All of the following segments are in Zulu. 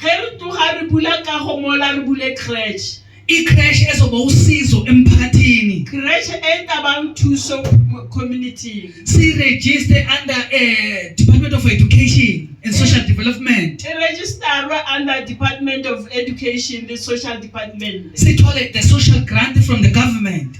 Ge re tloga re bula kago mola re bule creche. Icreche ezoba usizo emphakathini. Creche e tla bang thuso mo community. Sirejiste under uh, Department of Education and Social Development. E registerwa under Department of Education le Social Department. Sithole the social grant from the government.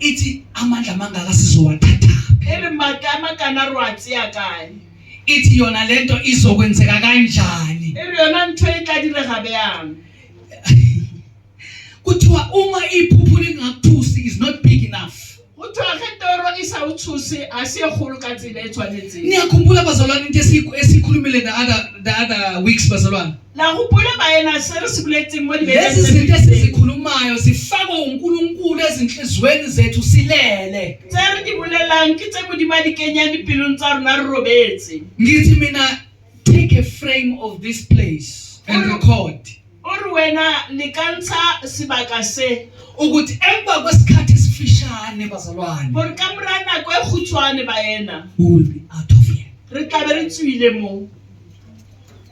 ithi amandla amangaka sizowathatha phela magama kana rwatsi ya kae ithi yona lento izokwenzeka kanjani eri yona ntho e tla direga bjang kuthiwa uma iphuphu lingakuthusi is not big enough kuthiwa ge toro e sa uthuse a se e kgolo ka tsela e tshwanetseng niyakhumbula bazalwane into esiyikhulumile the other, the other weeks bazalwane La hopola baena se re se boletseng mo libekeng lezi tse zinto fetileng. esizikhulumayo zifakwe unkulunkulu ezinhliziyweni zethu silele Tse re di bolelang ke tse Modimo a di kenyang dipelong tsa rona re robetse. ngithi mina take a frame of this place and record O re wena le ka ntsha sebaka se ukuthi emva kwesikhathi esifishane bazalwane gore ka mora nako e khutshwane baena we will be out of here re tlabe re tswile moo.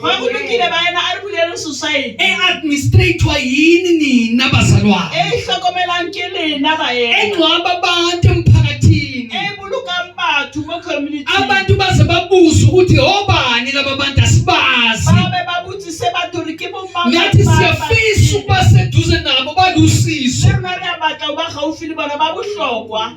Kwakulungile bayena a ri vuleli susayi. E administrator yini nina bazalwane? E hlokomelang ke lena bayena. E ngcwaba abantu emphakathini. E bulukang batho mo community. Abantu baze babuze ukuthi obani laba bantu asibazi. Babe babuthise batho ri ke bo mama. Ngathi siyafisa ukuba seduze nabo balusizo. Rona re a batla uba gaufi le bona ba bohlokwa.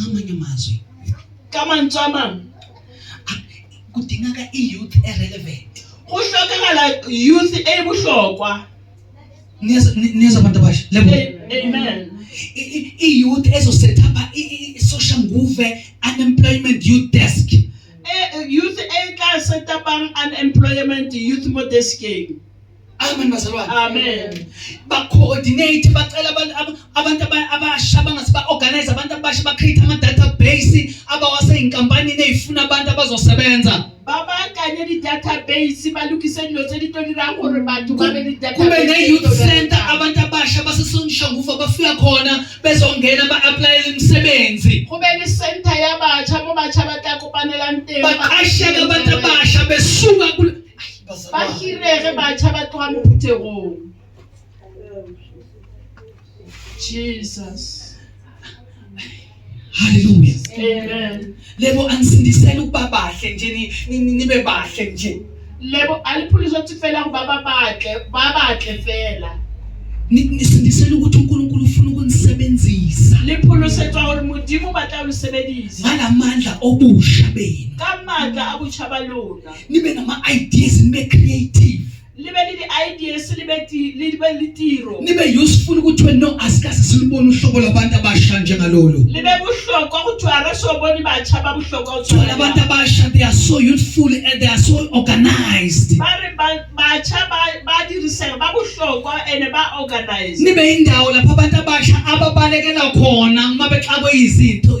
ngamanye amazwi come on come on kudingeka i-youth e-relevant kuhlokakala youth ebuhlokwa nizwa abantu abasha amen i-youth ezosetapha i-social nguve unemployment youth desk e, e, youth etla setapang unemployment youth modesking Amen bazalwane. Amen. Ba coordinate bacela abantu abantu abasha bangase ba organize abantu abasha ba create ama database abawase inkampani nezifuna abantu abazosebenza. Babakanye di database balukise dilo tse di tlo dirang gore batho ba be di database. Kube ne youth center abantu abasha basesongisha ngufa bafika khona bezongena ba apply imisebenzi. Kube ne center ya batsha bo batsha ba tla kopanelang teng. Baqasheke abantu abasha besuka kule. Ay ba hirege batšha ba tloga mo phuthegong jesus haleluya amen lebo anisindisela ukuba bahle nje nibe bahle nje lebo aliphulisa ukuthi fela ukuba babahle babahle fela nisindisela ukuthi uNkulunkulu ufuna ukunisebenzisa liphulusetshwa gore modimo ba tla lo sebedisa ngala mandla obusha benu ka matla a botšha ba lona nibe nama ideas nibe creative libe lili ideas libe libe litiro nibe useful ukuthi wena no asikaze silibone uhlobo labantu abasha njengalolu libe buhlokwa ukuthi arasoboni batsha babuhlokwa uthola abantu abasha they are so youthful and they are so organized bari batsha badiriseka babuhlokwa and ba organized nibe indawo lapho abantu abasha ababalekela khona uma bexakwe izinto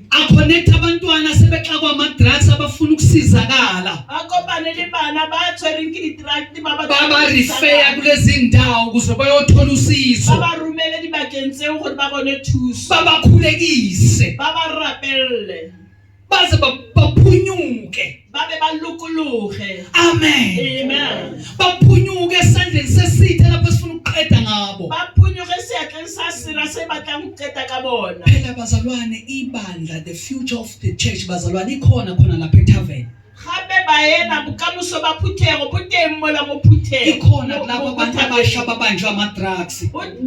aconnecta abantwana sebexakwa ama-drugs abafuna ukusizakala babarifeya kulezi ndawo ukuze bayothola usizo babakhulekise baze baphunyuke babe balukuluhe amen amen baphunyuke esandleni sesithe lapho sifuna ukuqeda ngabo baphunyuke esiyahleni sasira sebatla ukuqeda kabona phela bazalwane ibandla the future of the church bazalwane ikhona khona lapha etavern gape baena bokamoso ba phuthego bo teng mola mo phuthego ikhona kulabo abantu abasha babanjwa ama-drugs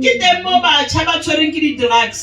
ke teng mo batšha ba tshwereng ke di-drugs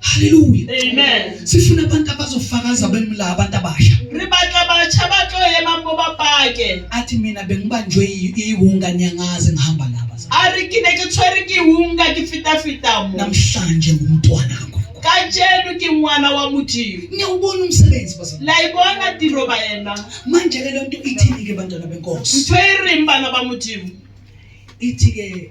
Haleluya. Amen. Sifuna abantu abazofakaza bemla abantu abasha. Re batla bacha ba tlo ema mo ba pake. Athi mina bengibanjwe iwunga nyangaze ngihamba laba. A re ke ne ke tshwere ke iwunga ke fita fita mo. Namhlanje ngumntwana kaNkulunkulu. Kajeno ke ngwana wa Modimo. Niyawubona umsebenzi bazalwane. La ibona tiro ba yena. Manje ke lento ithini ke bantwana benkosi? Ntwe reng bana ba Modimo? Ithi ke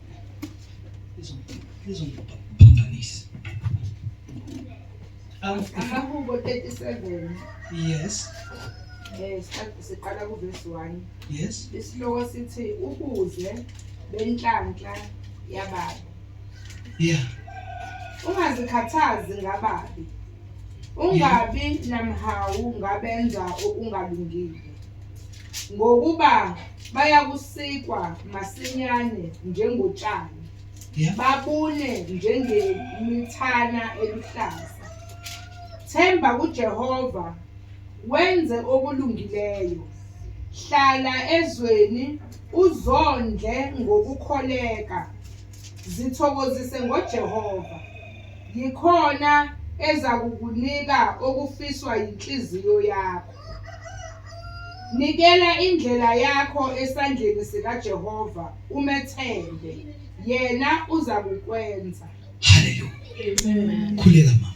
lizongiphambanisa amahubo 37 yes eh siqala ku verse 1 yes isihloko sithi ukuze benhlanhla yababa yeah ungazikhathazi ngababi Ungabi namhawu ngabenza okungalungile, ngokuba bayakusikwa masinyane njengotshani, Yeah. babune njengemithana eluhlaza. Themba kuJehova, wenze okulungileyo. Hlala ezweni, uzondle ngokukholeka. Zithokozise ngoJehova. Yikhona ezakukunika okufiswa yinhliziyo yakho. Nikela indlela yakho esandleni sikaJehova umethembe, yena uzakukwenza. Hallelujah. Amen. Khuleka mama.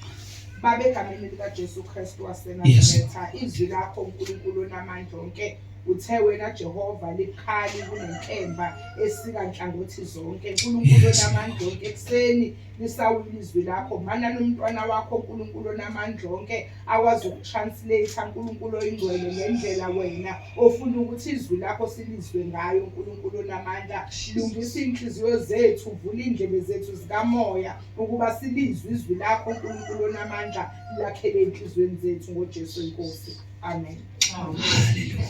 Baba egameni likaJesu Kristu waseNazaretha, izwi lakho uNkulunkulu onamandla onke uthe wena Jehova likhali kunenkemba esika nhlangothi zonke. Unkulunkulu onamandla onke ekuseni lisawula izwi lakho mana nomntwana wakho uNkulunkulu onamandla onke akwazi ukutranslate uNkulunkulu oyingcwele ngendlela wena ofuna ukuthi izwi lakho silizwe ngayo uNkulunkulu onamandla lungisa inhliziyo zethu vula indlebe zethu zikamoya ukuba silizwe izwi lakho uNkulunkulu onamandla lakhele enhlizweni zethu ngoJesu inkosi amen haleluya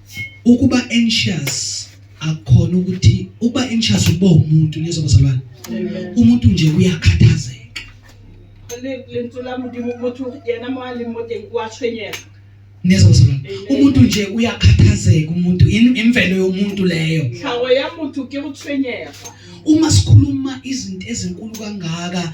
ukuba anxious akukhona ukuthi ukuba anxious ukuba umuntu nizwa bazalwane umuntu nje uyakhathazeka lentswe la modimo motho yena mo a leng mo teng o a tshwenyega neza bazalwane umuntu nje uyakhathazeka umuntu imvelo yomuntu leyo tlhago ya motho ke go tshwenyega uma sikhuluma izinto ezinkulu kangaka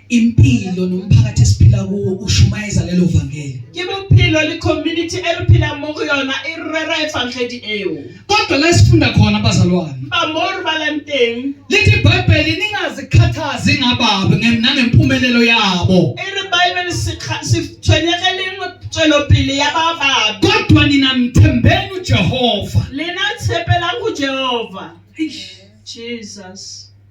impilo nomphakathi esiphila kuwo ushumayeza lelo vangeli ke bophelo le community e re phelang mo go yona e rera evangeli eo kodwa la sifunda khona bazalwane ba mo re balang teng lithi ibhayibheli ningazikhathazi ngababi nangempumelelo yabo e re bhayibheli sitshwenyegeleng tswelopele ya ba babi kodwa nina mthembeni ujehova lena tshepelang ujehova jesus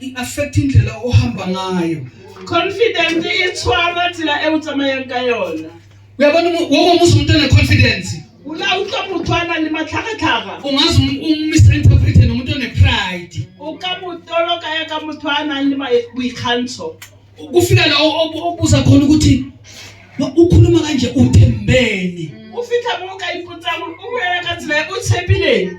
i-affect indlela ohamba ngayo confident e tshwara tsela e o tsamayang ka yona uyabona wo mongwe se umuntu one-confidence o la utlwa motho a nang le matlhagatlhaga ungaze um-, umisinterprete nomuntu one-pride o ka mo toloka ya ka motho a nang le boikgantsho kufika la obuza khona ukuthi ukhuluma kanje uthembeni o fitlha mo o ka ipotsang o bolela ka tsela e o tshepileng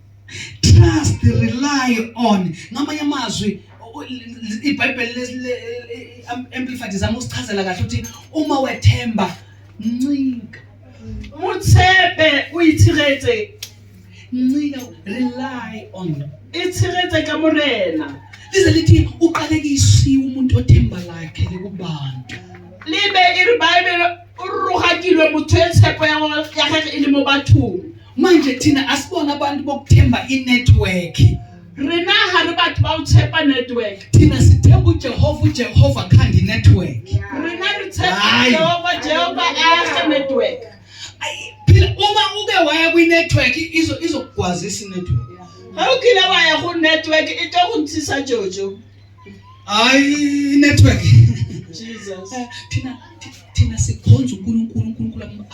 trust rely on ngamanye amazwi ibhayibheli amplified izama ukusichazela kahle ukuthi uma wethemba ncika mutshepe uyithiretse ncika rely on ithiretse ka morena lize lithi uqalekisiwe umuntu othemba lakhe likubantu libe iribhayibheli o rorogakilwe motho e tshepo ya gagwe- ya gage e le mo bathong manje thina asibona abantu bokuthemba inethiwekhi rena ga re batho ba o tshepa network thina sithemba ujehova ujehova khanda inethiwekhi rena re tshepa Hayi. jehova jehova age network Ayi, phela uma uke waya kwinethiwekhi izo- izokugwazisa inethiwekhi ga o kile wa ya go network e tlo go ntshisa jojo Hayi network. Jesus. Eh, thina thina sikhonza uNkulunkulu uNkulunkulu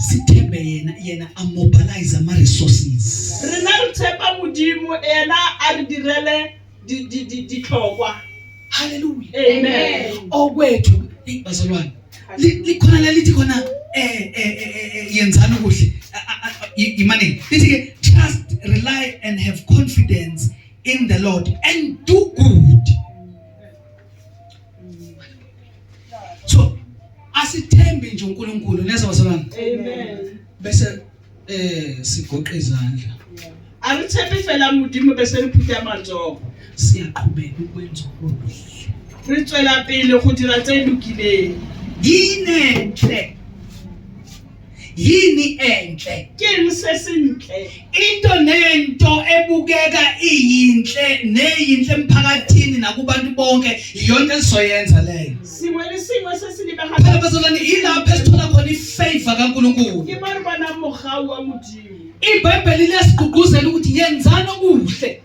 sithembe yena yena a mobilize ama resources. Rena re tshepa modimo ena a re direle di di di ditlhokwa. Hallelujah. Amen. Okwethu bazalwane likhona lelithi khona eh, eh, eh, yenzani okuhle yimani lithi ke trust rely and have confidence in the Lord and do good. So asithembi nje uNkulunkulu nezwa bazalwane. Amen. Bese eh sigoqa izandla. Angithembi fela mudimo bese liphutha amanzoko. Siyaqhubeka ukwenza okuhle. Re tswela pele go dira tse lokileng. Yinenhle yini enhle kini sesinhle into nento ebukeka iyinhle neyinhle emphakathini nakubantu bonke iyona esizoyenza leyo simo lesimo sesilibe ha phela bazalwane ilapho esithola khona ifavor kaNkuluNkulu ke bana bana mogau wa modimo ibhayibheli liyasigqugquzela ukuthi yenzani okuhle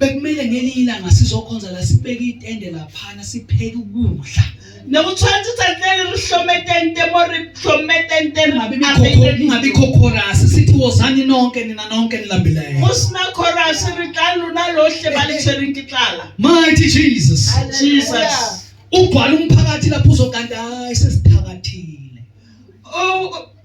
bekumele ngelinye ilanga sizokhonza la sibeke itende laphana sipheke ukudla nokuthatha uthathele uhlometente more hlometente ngabe ngabe chorus sithi wozani nonke nina nonke nilambileyo usina chorus ritlalu nalohle balisheri intiklala mighty jesus jesus ubhala umphakathi lapho uzokanda hayi sesithakathile oh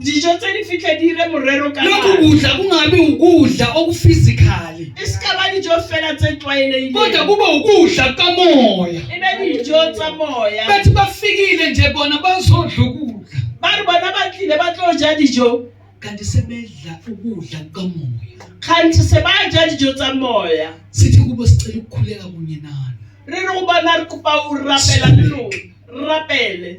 dijo tse di fitlhe di ire morero ka lokhu nako. kudla kungabi ukudla okufizikali e se ka ba dijo fela tse kodwa tlwaelegileng kube ukudla kamoya e be dijo tsa moya bathi bafikile nje bona bazodla ukudla ba re bona ba tlile ba tlo ja dijo kanti sebedla ukudla kamoya kganthe se ba ja dijo tsa moya sithi kubo sicela ukukhuleka kunye nani re re go bona re kopa o rapela le lona rapele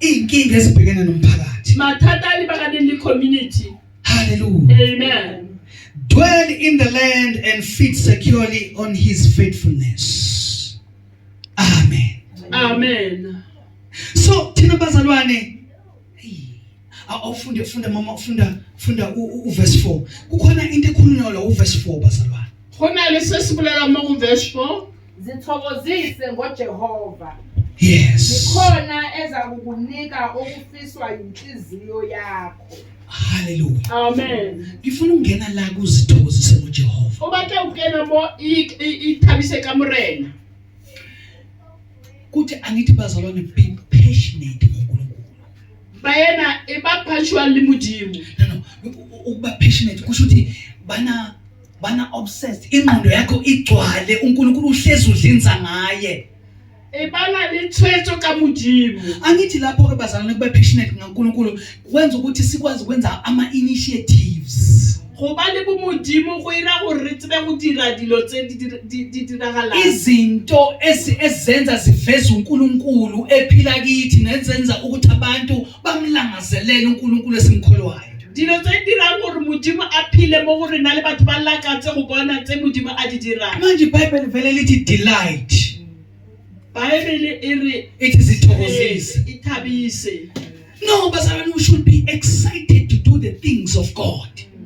Izinkinga ezibhekene nomphakathi. Mathata a lebaganeng le community. Hallelujah. Amen. Dwell in the land and feed securely on his faithfulness. Amen. Amen. So thina bazalwane awufunde funda mama ufunda funda uverse 4 kukhona into ekhulunywa la uverse 4 bazalwane khona lesesibulela uma uverse 4 Zithokozise ngoJehova. Yes. Zikhona ezakukunika okufiswa inhliziyo yakho. Hallelujah. Amen. Ngifuna ungena la kuzithokozise ngoJehova. Uba ke ungena mo ithabise kamurena. Kuthi angithi bazalwane be passionate ngoNkulunkulu. Bayena ibaphathwa limudimu. No no, ukuba passionate kusho ukuthi bana bana obsessed ingqondo yakho igcwale uNkulunkulu uhlezi udlinza ngaye ebala lethwetho kamujimu angithi lapho ke bazalwane kube passionate ngaNkulunkulu kwenza ukuthi sikwazi ukwenza ama initiatives go ba le bomodimo go ira gore re tsebe go dira dilo tse di diragalang izinto ezenza ziveza uNkulunkulu ephila kithi nezenza ukuthi abantu bamlangazelele unkulunkulu esimkholwayo dilo tse dirang gore modimo a phile mo go rena le batho ba lakatse go bona tse modimo a di dirang manje bible vele lithi delight bible e re ithi zithokozise e thabise no bazalwane we should be excited to do the things of god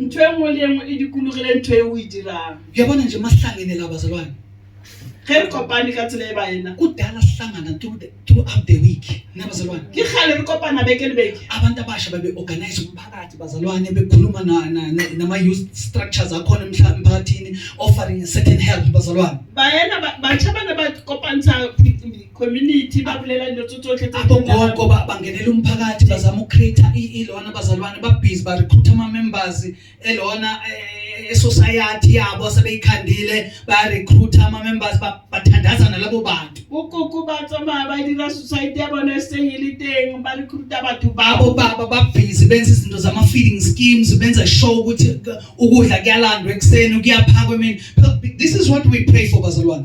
ntho e nngwe le e nngwe e dikologile ntho e o e dirang uyabona nje masihlangene la bazalwane ge re kopane ka tsela e ba ena kudala sihlangana through the- throughout the week na bazalwane ke gale re kopana beke le beke abantu abasha babe-organize umphakathi bazalwane bekhuluma na- na- na- nama-youth structures akhona emhla- emphakathini offering a certain help bazalwane bayena batšha ba ne ba kopantsha community babulela into tsotsotlhe tse di nna- abogogo ba- bangenela umphakathi bazama ucreata ilona bazalwane babhizi barecruita ama-members elona eh, esociety yabo asebeyikhandile bayarecruita ama-members ba- bathandaza nalabo bantu ukoko ba tsamaya ba dira society ya bone e seng e le teng ba recruita batho babo abobaba babhizi benza izinto zama-feeding schemes benza show ukuthi ukudla kuyalandwa ekuseni kuyaphakwa emini this is what we pray for bazalwane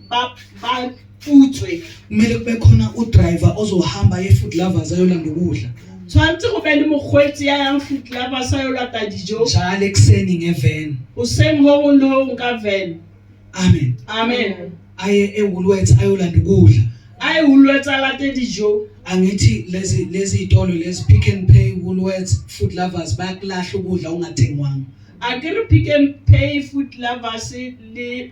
baputswe kumele kube khona udriver ozohamba ye-food lovers ayolanda ukudla tshwanetse go be le mokgweetsi ya yang food lovers ayolata dijo njalo ekuseni ngeven goseng go gong le gong ka ven amen amen aye ewoolworths ayolanda ukudla aye woolworths alate dijo angithi lezi lezi itolo lezi pick and pay woolworths food lovers bayakulahla ukudla ungathengwanga akere pick and pay food lovers le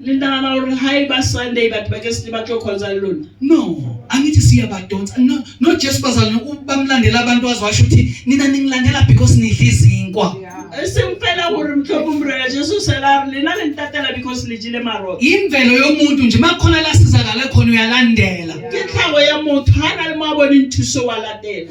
Ni nagana gore ha e ba Sunday batho ba ke se ba tlo khonza le lona. No, angithi siyabadonsa. No, no Jesu bazalwane ubamlandela abantu azwasho ukuthi nina ningilandela because nidla izinkwa. E seng fela gore motlhoko morena Jesu sela re lena le ntatela because le jile marotho. Imvelo yomuntu nje makhona la sizakala khona uyalandela. Ke tlhago ya motho ha na le mo a boneng thuso wa latela.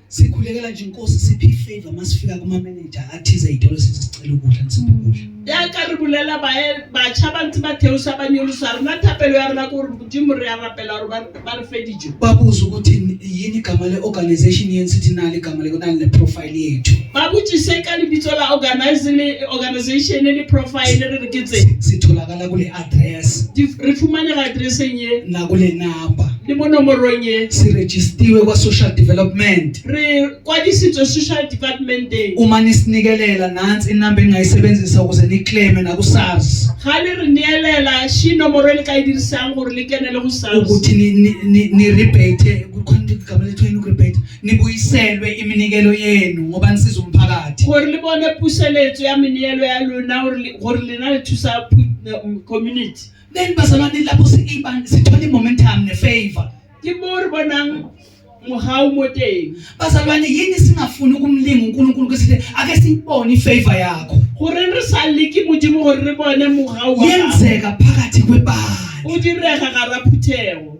sikhulekela nje inkosi siphi ifavor masifika kuma manager athize idolo sisicela ukudla nisiphi ukudla ya ka re bulela bae bacha ba ntse ba theosa ba nyolusa rona thapelo ya rona ko re modimo re ya rapela gore ba re feditso ba buza ukuthi yini igama le organization yeni sithi na le gama le kona le profile yethu ba butsise ka lebitso la organize le organization le profile re re ke tse sitholakala kule address Di- ri fumanega atereseng ye na kule number le mo nomorong ye si registiwe kwa social development re kwadisitswe social departmenteng uma nisinikelela nansi inamba engingayisebenzisa ukuze niclaime naku-sars ga le re neelela shi nomoro e le ka e dirisang gore le kene le go sars ukuthi ni- ni- ni- ni-rebate kukhona into igama lethiwa yini uku-rebate nibuyiselwe iminikelo yenu ngoba nisiza umphakathi gore le bone puseletso ya meneelo ya lona gore le gore lena le thusa pu- na- m- community then bazalwane lapho si- iba- sithola i-momentum ne-favor ke mo re bonang mogao mo teng bazalwane yini singafuni ukumlinga unkulunkulu kwesithi ake siyibone i-favor yakho goreng re sa leke modimo gore re bone mogao wa gago yenzeka phakathi kwebandla o direga gara phuthego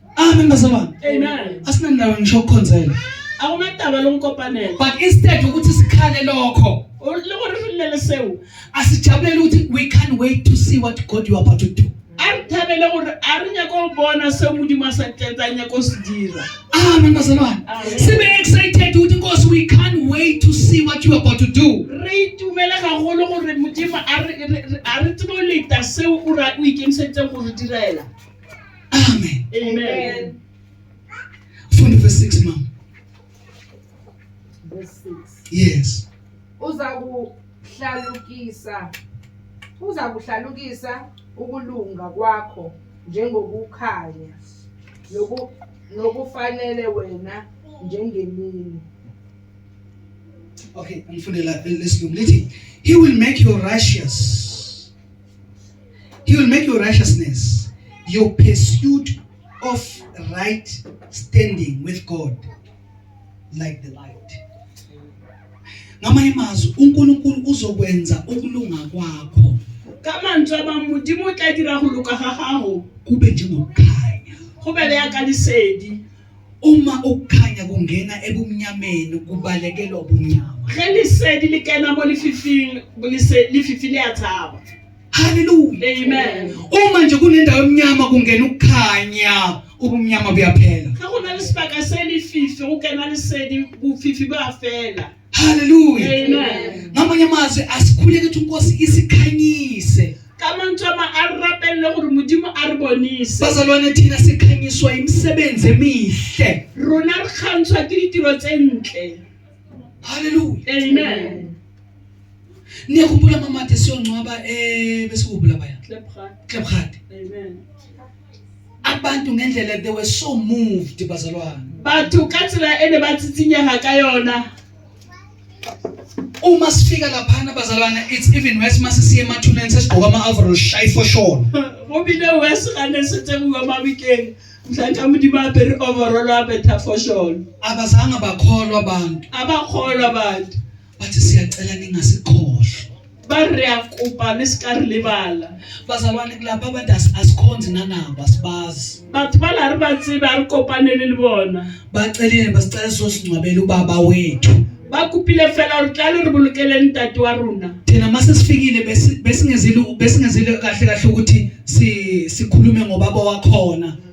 Amen bazalwane. Amen. Asinandawo ngisho ukukhonzela. Akumadaba lomkopanela. But instead ukuthi sikhale lokho. Lokurilele sewu. Asijabulele ukuthi we can't wait to see what God you are about to do. Arithabele gore a re nyako bona se modimo a sa tletsa nyako se dira. Amen bazalwane. Sibe excited ukuthi Nkosi we can't wait to see what you are about to do. Re itumele gagolo gore modimo a re a re tsebo leta seo o ra o ikemiseditseng go re direla. Amen. Amen. Funda verse 6 mama. Verse 6. Yes. Uza kuhlalukisa uza kuhlalukisa ukulunga kwakho njengokukhanya noku nokufanele wena njengemini. Okay, angifunde la lesilungu lithi he will make you righteous He will make your righteousness your pursuit of right standing with God like the light. Ngamanye amazwi uNkulunkulu uzokwenza ukulunga kwakho. Ka mantswe a mang Modimo o tla dira go loka ga gago kube njengokukhanya. go bebe ya ka lesedi. Uma ukukhanya kungena ebumnyameni kubalekelwa ubumnyama. Ge lesedi le kena mo lefifing lese- lefifi le a tshaba Hallelujah. amen Uma nje kunendawo emnyama kungena ukukhanya, ubumnyama buyaphela. ge go na le sebaka se lefifi go kena lesedi bofifi ba fela Haleluya. Amen. Ngamanye amazwi asikhuleke ukuthi uNkosi isikhanyise. Kama ntoma arapelle gore modimo a re bonise. Bazalwane thina sikhanyiswa imisebenzi emihle. Rona re kgantshwa ke ditiro tse ntle. Haleluya. Amen. niyakhumbula mamade siyongcwaba um besikubula baya Klebgat. klebhadi Amen. abantu ngendlela they were so moved bazalwane batho ka tsela e ne ba tsitsinyega ka yona uma sifika laphana bazalwane it's even worse uma sisiye emathuneni sesigqoka ama-overall shayi for sure bobile worse ga ne se tsegiwa mabikeng mhlantlha modimo apere overall a betha for sure abazange bakholwa abantu abakholwa abantu bathi siyacela ningasikhohlwa bari ya kopa ni sika ri lebala bazalwane kulapha abantu as- asikhonzi nanabo asibazi batho ba la ri ba tsebe a ri kopanele le bona bacelile basicela sosingcwabela ubaba wethu ba kopile fela ri tla le ri bolokele ntate wa rona thina uma sesifikile besi- besingezile besingezile kahle kahle ukuthi si- sikhulume ngobaba wakhona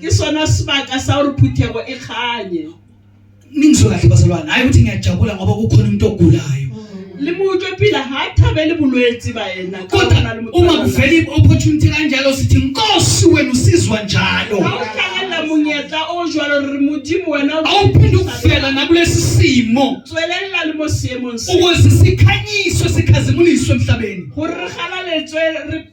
ke sona sibaka sa hore phuthego e kganye ningizwe kahle bazalwane hayi ukuthi ngiyajabula ngoba kukhona umuntu ogulayo le motho phila ha thabele bolwetsi ba yena kodwa uma kuvela i-opportunity kanjalo sithi nkosi wena usizwa njalo awuhlangana monyetla o jwalo re modimo wena awuphinde ukuvela nakulesi simo tswelela le mo seemong ukuze sikhanyiso sikhazimuliswe emhlabeni gore re galaletswe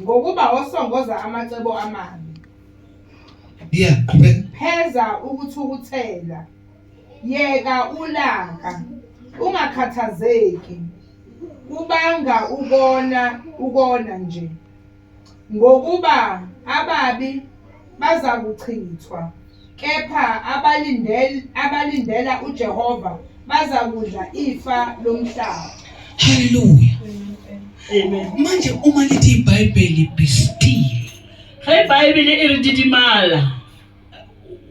ngokuba osongoza amacebo amabi yeah qhubeka pheza ukuthukuthela yeka ulaka ungakhathazeki kubanga ukona ukona nje ngokuba ababi bazakuchithwa, kepha abalindel, abalindela uJehova bazakudla ifa lomhlaba. Hallelujah. Amen. Manje uma lithi iBhayibheli be still. Ge iBhayibheli e re didimala.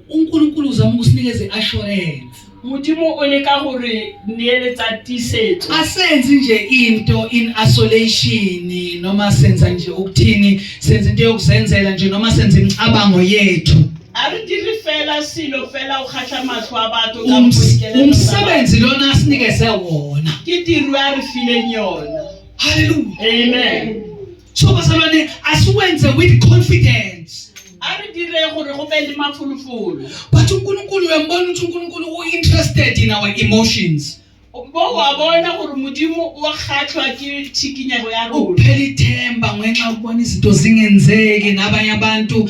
uNkulunkulu uzama ukusinikeza i-assurance Modimo o leka go re neeletsa tisetso. Asenzi nje into in isolation noma senza nje ukuthini senza into yokuzenzela nje noma senza imicabango yethu. A re dire fela selo fela o kgatlha matlho a batho ka Ums- boikelelo ba- Umsebenzi lona asinikeze wona. Ke tiro a re fileng yona. Hallelujah. Amen. so bazalwane asiwenze with confidence ari dire gore go be le mafulufulu but unkulunkulu uyambona ukuthi unkulunkulu u-interested in our emotions bo wa bona gore modimo wa kgatlhwa ke tshikinyego ya rona uphela ithemba ngenxa yokubona izinto zingenzeki nabanye abantu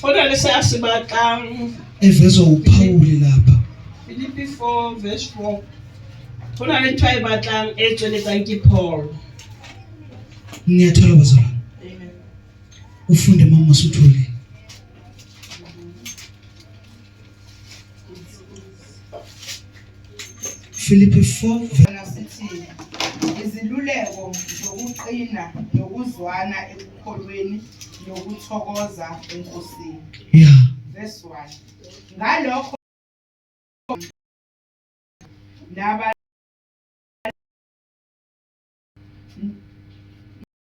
Kodwa lesi asibaxangi. Evezwa uPawuli lapha. Filipi 4 verse 4. Khona le ntwa e batlang e tsweletsang ke Paul. Ngiyathola bazalwane. Amen. Ufunde mama usuthole. Filipi 4 sithi iziluleko zokuqina nokuzwana ekukholweni nokuthokoza enkosini. Yeah. Verse 1. Ngalokho naba